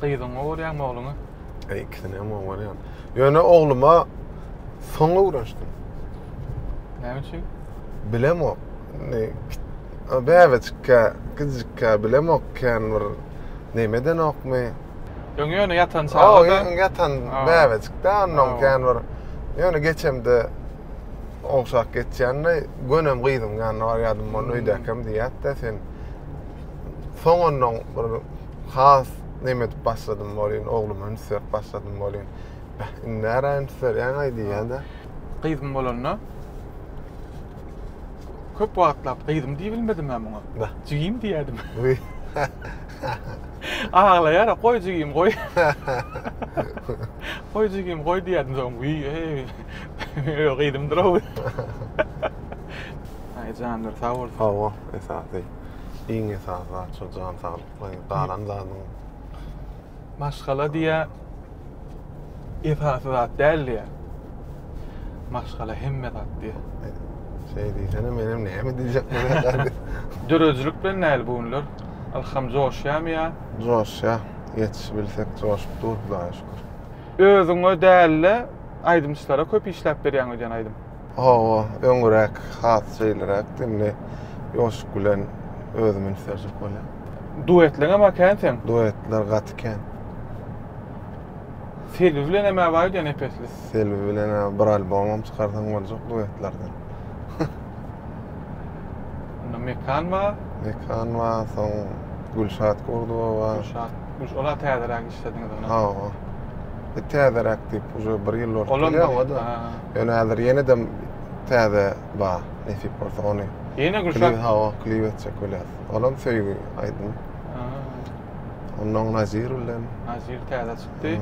Gyzyňa urýaňmy ogluňa? E, ikisine hem urýan. Ýöne ogluma soň öwrenişdim. Näme üçin? Bilemok. Ne bäbejikkä, gyzjykka bilemok kän bir nemeden okmy? Ýöne ýöne ýatan çaga. O ýöne ýatan bäbejikde ondan kän bir ýöne geçemde ogşak geçýände gönem gyzyň ýanyna barýadym, ony öýdäkem diýýärdi sen Soň onnoň bir has neme edip başladym welin, ogluma üns berip başladym welin. Beh, indi nära üns berýäň-aý diýýän-dä. Gyzym bolanda köp wagtlap gyzym diýibilmedim-ä muňa. Beh. Jigim diýýädim. Aglaýar-a, goý jigim, goý. Goý jigim, goý diýýädim. Soň, wiý-eý, gyzymdyr-ow. Aý, janlary sag bolsun. Hawa, esasy. iň esasy zat şo jan saglyk we galan zadyň maşgala diýýä esasy zat däl diýýä maşgala hemme zat diýýä şeý diýsene menem näme diýjek bolýan döredijilik bilen näl bu günler ylham joşýamy ýa joşýa ýetişibilsek joşup dur hudaýa şükür özüňe däl-de aýdymçylara köp işläp berýäň öýdýän aýdym Hawa, öňräk has şeýleräkdi, indi Ýoşup bilen özüm ünsärjek bolýan. Duetleňem a kän seň. Duetler gaty kän. Selbi bilenem-ä bar diýýä nepesli. Selbi bilen-ä bir albomam çykarsaň boljak duetlerden. Onda Mekan bar. Mekan bar, soň Gülşat Gurdowa bar. Gülşat, Gülş, ola täzeräk işlediňiz onam. Hawa. E, täzeräk diýip, uje bir ýyl bolup Olam gelýär-ä-da. Ýöne häzir ýene-de täze bar, nesip bolsa ony. Ýene Gülşat. Hawa, klip etjek bolýas. Olam söýgi aýdym. Ondan Nazir bilen. Nazir täze çykdy.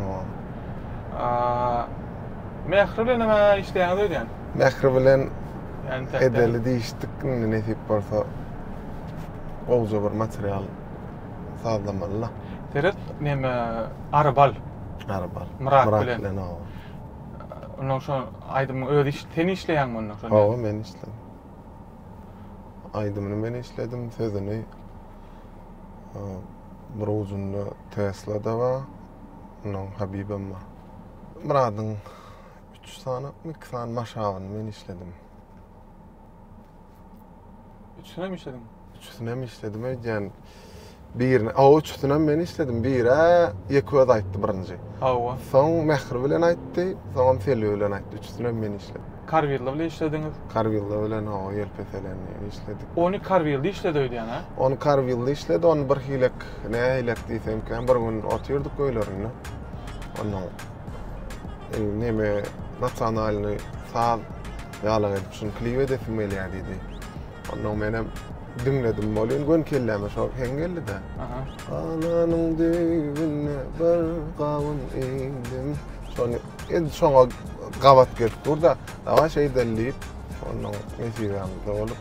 Mähri bilen näme işleýäňiz öýdýän? Mähri bilen edeli diýişdik, indi nesip bolsa gowja bir material sazlamaly-la. Seret, näme Arbal. Arbal. Myrat bilen. Onda şu aýdymyň özi iş, sen işleýäňmi onda? Hawa, men işledim. Aýdymyny men işledim, sözüni bir ujunda Tesla da bar, ondan Habibem bar. Myradyň üç sany, iki sany maşabyny men işledim. Üçüsini hem işlediň. Üçüsini hem işledim öýdýän. Birini, o üçüsini hem men işledim. Biri Ýeköz aýtdy birinji. Hawa. Soň Mähri bilen aýtdy, soňam Selbi bilen aýtdy. Üçüsini hem men işledim. Karwilda bilen işlediňiz. Karwilda bilen hawa ýelpeseleni işledik. Ony Karwilda işledi öýdýän, hä? Ony Karwilda işledi, ony birhilek, nähilek diýsemkä, bir gün otyrdyk öýlerinde. Onuň neme, nasionalnyý saz Ýalak edip şuny klip edesim gelýär diýdi. Ondan menem diňledim bolýan gön kelläme şo heň geldi-de. Galanyň düýbüne bir gawun egdim. Şony indi şoňa gabat gelip dur-da, dawa şeýdeli diýip, ondan nesibämiz dolup.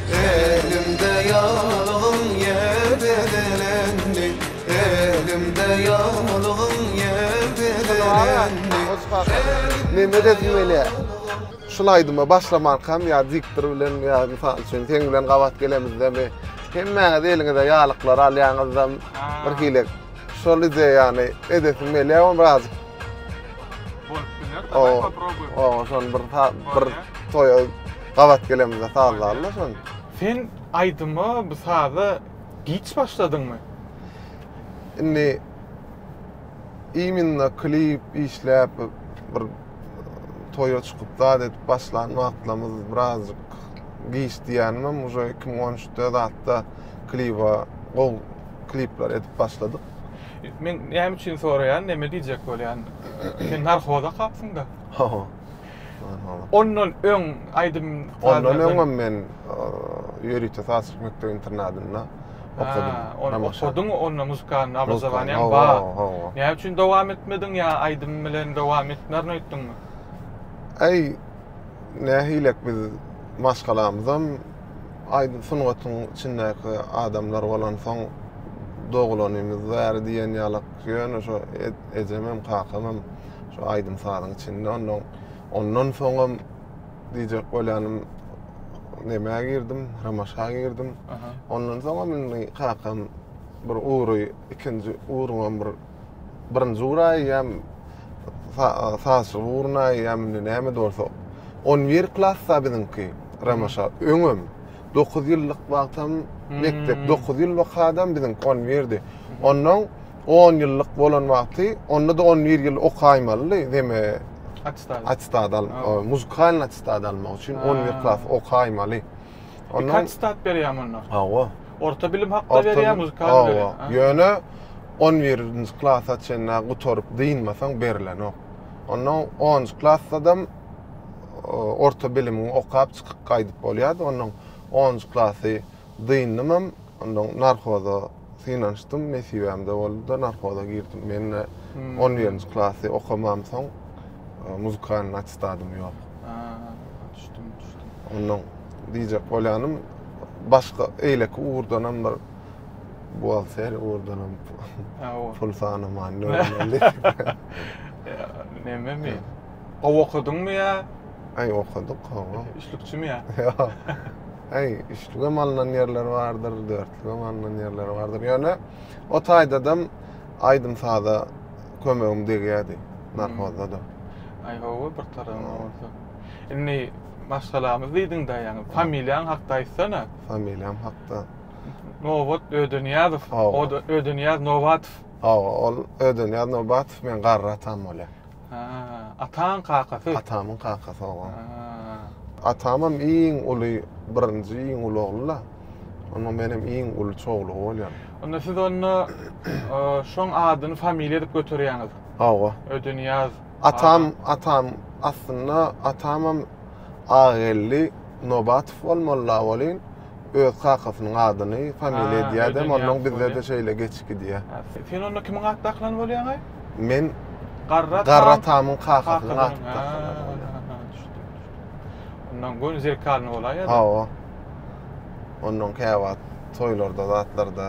Elimde ýaglygyň ýel bezelendi, Elimde ýaglygyň ýel bezelendi, Elimde Mehmet Edimeli şul aýdyma başlamarkam ýa diktor bilen ýa mysal üçin seň bilen gabat gelemizdemi hemmäňiz eliňize ýalyklary alýaňyzdam bir hili şol ideýany edesim gelýär ony birazjyk Bolup biler, daway poprobuýun. Oba şony bir bir toýa Gabat gelemizde sazlarla şony. Sen aýdyma, bu saza giç başladyňmy? Indi iminna klip işläp bir toýa çykyp zat edip başlan wagtlarymyz birazjyk giç diýenimem uje 2013-de zatda kliba gowy klipler edip başladyk. Men näme üçin soraýan, näme diýjek bolýan? Sen narhoza kapsyň-da. Ondan öň aýdym Ondan öňem men ýörite sazçylyk mekdep internadynda okadym. Ony okadyň, onda muzykalnyý obrazowaniýaň bar. Näme üçin dowam etmediň ýa aýdym bilen dowam etmerin öýtdüňmi? Äý, nähilek biz maşgalamyzam aýdym sungatyň içindäki adamlar bolansoň, dogulanymyz bäri diýen ýaly. Ýöne şo ejemem, kakamam şo aýdym-sazyň içinde. Ondan ondan soňam diýjek bolýanym nämä girdim, Ramaşa girdim. Ondan soňam indi kakam bir ugry, ikinji ugruňam bir birinji ugry aýýam sazçy ugruny aýýam indi näme bolsa. On bir klasda biziňki Ramaşa öňem. Dokuz ýyllyk wagtam mekdep, dokuz ýyl okadym biziň konwirdi. Onnoň on ýyllyk bolan wagty, onda-da on bir ýyl okaýmalydy, deme, Attestad. attestad al, o, muzykalnyý attestad almak üçin on bir Ha. klas okaýmaly. Iki Onnoň, attestad berýärmi onda? hawa. Orta bilim hakda Orta berýär, bil- muzykalny hawa. berýär. Ha. Ýöne on birinji klasa çenli gutaryp dynmasaň berilenok. Onnoň onunjy klassadam orta bilimini okap çykyp gaýdyp bolýardy. Ondan 10-njy klasy dyndymam, ondan narhoza synanyşdym, nesibämde boldy-da narhoza girdim. Mende 11-nji hmm. klasy okamamsoň e, muzykalnyň attestadym ýok. Düşdüm, düşdüm. Ondan diýjek bolýanym, başga eýleki ugurdanam bir buhgalter ugurdanam pul sanaman, nöwreli. Neme men? Gowy okadyňmy ýa? Aý okadyk gowy. Üçlükçimi ýa? Ýok. Aý üçlügem alnan ýerler bardyr, dörtlügem alnan ýerler bardyr. Ýöne o taýdadam aýdym saza kömegim degýärdi. Narhozda da. Aý gowy bir tarapyndan bolsa. Indi maşgalamyz diýdiňdä ýaňy familiýaň hakda aýtsana. Familiýam hakda. Nobat Ödeniýazow, Ödeniýaz Nobatow. Hawa ol Ödeniýaz Nobatow meň garry atam bolýar. Ha, ataň kakasy. Atamyň kakasy oba. Atamam iň uly, birinji iň uly ogly-la. Onda menem iň uly çowlugy bolýan. Onda siz onda şoň adyny familiýa edip göterýäňiz. Hawa. Ödünýaz. Atam, atam aslynda atamam Ageldi Nobatow bolmaly-la welin, öz kakasynyň adyny familiýa edýädem, onnoň bizde-de şeýle geçip gidýär. Sen onda kimiň at dakylany bolýaňaý? Men Garra tamyň kakasynyň aty dakylany bolýar. Düşdüm, düşdüm. Onnoň göni zerkalny bolaýýa-da. Hawa. Onnoň käwagt toýlarda zatlarda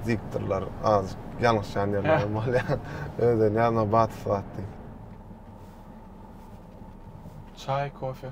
diýipdirler, azajyk ýalňyşýan ýerlerim bolýar. Özüni ýazma Batys at diýip. Çaý, kofe.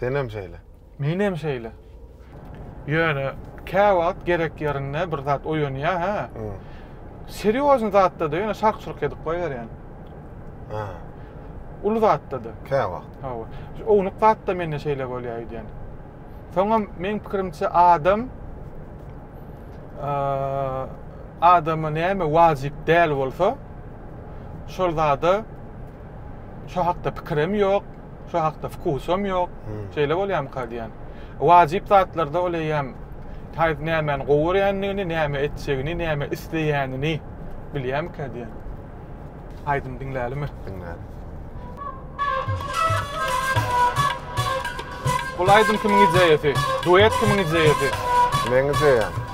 Senem şeýle. Menem şeýle. Ýöne käwagt gerek ýerinde bir zat oýanýar hä. Serýozny zatda-da ýöne şark-şurk edip goýberýän. Hä. Uly zatda-da. Käwagt. Hawa. Ownuk zatda mende şeýle bolýar öýdýän. Soňam meň pikirimçe adam adama näme wajyp däl bolsa şol zada şo hakda pikirem ýok. Şu hakda wkusam ýok. Hmm. Şeýle bolýamyka diýen. Wajyp zatlarda ol eýýäm taýyp nämäni gowy görýändigini, näme etjegini, näme isleýänini bilýärmikä diýen. Aýdym diňlälimi? Diňläli. Bul aýdym kimiň ideýasy? Duet kimiň ideýasy? Meň ideýam.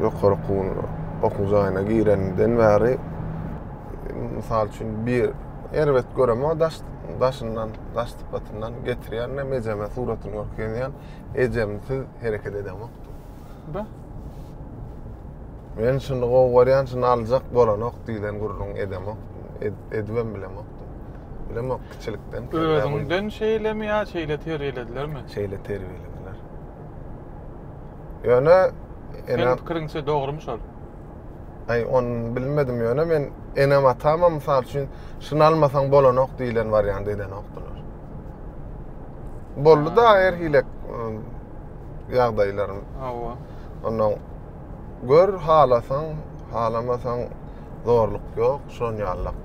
ýokary okuw okuw jaýyna girenden bäri mysal üçin bir erbet göremok daş daşyndan daş sypatyndan getirýän hem ejeme suratyny görkezýän ejemsiz hereket edemok da men şuny gowy görýän şuny aljak bolanok diýlen gürrüň edemok ed, edibem bilemok bilemok kiçilikden özüňden şeýlemi ýa şeýle terbiýeledilermi şeýle terbiýelediler Ýöne Seniň pikiriňçe dogrymy şol? Aý, ony bilmedim ýöne men enem atamam mysal üçin şuny almasaň bolanok diýlen wariant edenokdylar. Boldy da her hile ýagdaýlarym. Hawa. Ondan gör halasaň, halamasaň zorluk ýok, şon ýallyk.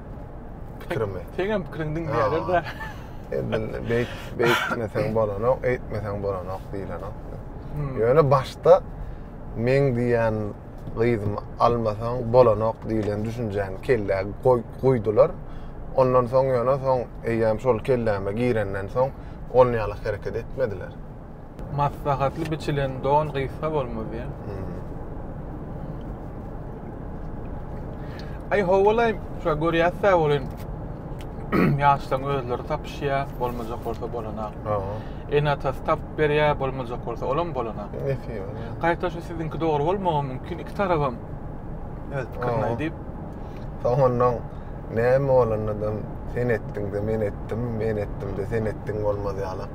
Pikirimi. Seňem pikiriň diňleýärler-de. Indi beýt, beýtmeseň bolanok, eýtmeseň bolanok diýlenok. Hmm. Ýöne başda meň diýen gyzymy almasaň bolanok diýlen düşünjäni kellä goý, goýdular. Ondan soň ýöne soň eýýäm şol kelläme girenden soň ol ýaly hereket etmediler. Maslahatly biçilen don gysga bolmaz diýen. Aý howalaý, şo görýäs-dä welin ýaşlaryň özleri tapyşýar, bolmajak bolsa bolana. Aha. Ene-atasy tapyp berýär, bolmajak bolsa olam bolana. Nesibe. Gaýta şu siziňki dogry bolmagy mümkin, iki tarabam öz pikirini Aha. aýdyp, Soňundan näme bolanda-da sen etdiň-de men etdim, men etdim-de sen etdiň bolmaz ýaly.